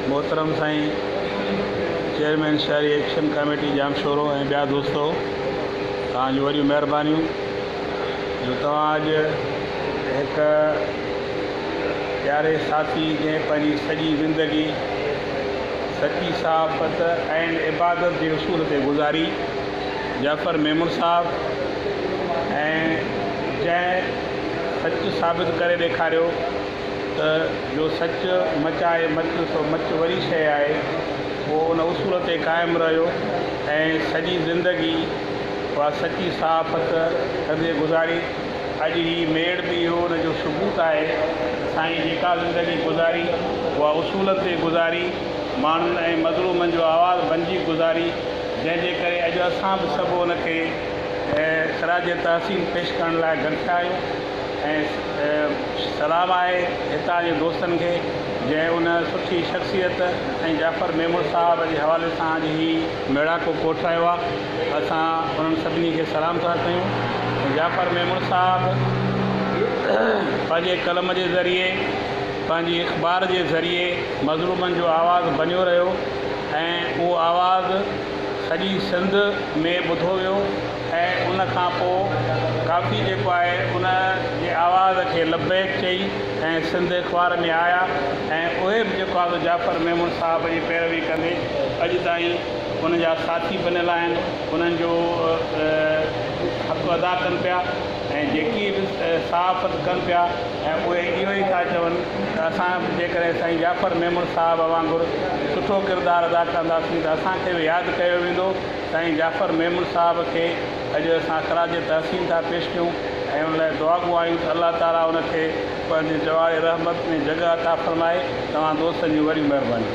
محترم سائين چيئرمين شهري ايڪشن ڪاميٽي ڄامشورو ۽ ٻيا دوستو توهان جون وڏيون مهربانيون جو توهان اڄ هڪ پياري ساٿي جنهن پنهنجي سڄي زندگي سچي صحافت ۽ عبادت جي اصول تي گذاري جعفر ميمڻ صاحب ۽ جنهن سچ ثابت ڪري ڏيکاريو ته جو سچ مچ آهي مچ سو مچ وڏي شيء آهي. هو ان اصول تي قائم رهيو ۽ سڄي زندگي اها سچي صحافت ڪندي گذاري. اڄ هي ميڙ به اهو ان جو ثبوت آهي. سائين جيڪا زندگي گذاري اها اصولن تي گذاري، ماڻهن ۽ مظلومن جو آواز بنجي گذاري، جنهن جي ڪري اڄ اسان به سڀ ان کي. خراج تحسين پيش ڪرڻ لاء گڏ ٿيا آهيون ۽ سلام آهي هتان جي دوستن کي جنهن ان سٺي شخصيت ۽ جعفر ميمڻ صاحب جي حوالي سان اڄ هي ميڙاڪو ڪوٺرايو آهي اسان انهن سڀني کي سلام ٿا ڪيون جعفر ميمڻ صاحب پنهنجي قلم جي ذريعي پنهنجي اخبار جي ذريعي مظلومن جو آواز بنيو رهيو ۽ اهو آواز سڄي سنڌ ۾ ٻڌو ويو ۽ ان کان پوء ڪافي جيڪو آهي ان جي آواز کي لبيڪ چئي ۽ سنڌ اخبار ۾ آيا ۽ اهي به جيڪو آهي جعفر ميمڻ صاحب جي پيروي ڪندي اڄ تائين ان جا ساٿي بنيل آهن انهن جو حق ادا ڪن پيا. ۽ جيڪي به صحافت ڪن پيا ۽ اهي اهو ئي ٿا چون ته اسان به جيڪڏهن سائين جعفر ميمڻ صاحب وانگر سٺو ڪردار ادا ڪنداسين ته اسان کي به ياد ڪيو ويندو، سائين جعفر ميمڻ صاحب کي اڄ اسان خراج تحسين ٿا پيش ڪيون ۽ ان لاء دعاڳو آهيون ته الله تعاليٰ ان کي پنهنجي جواڙي رحمت ۾ جڳهه عطا فرمائي، توهان دوستن جون وڏيون مهربانيون.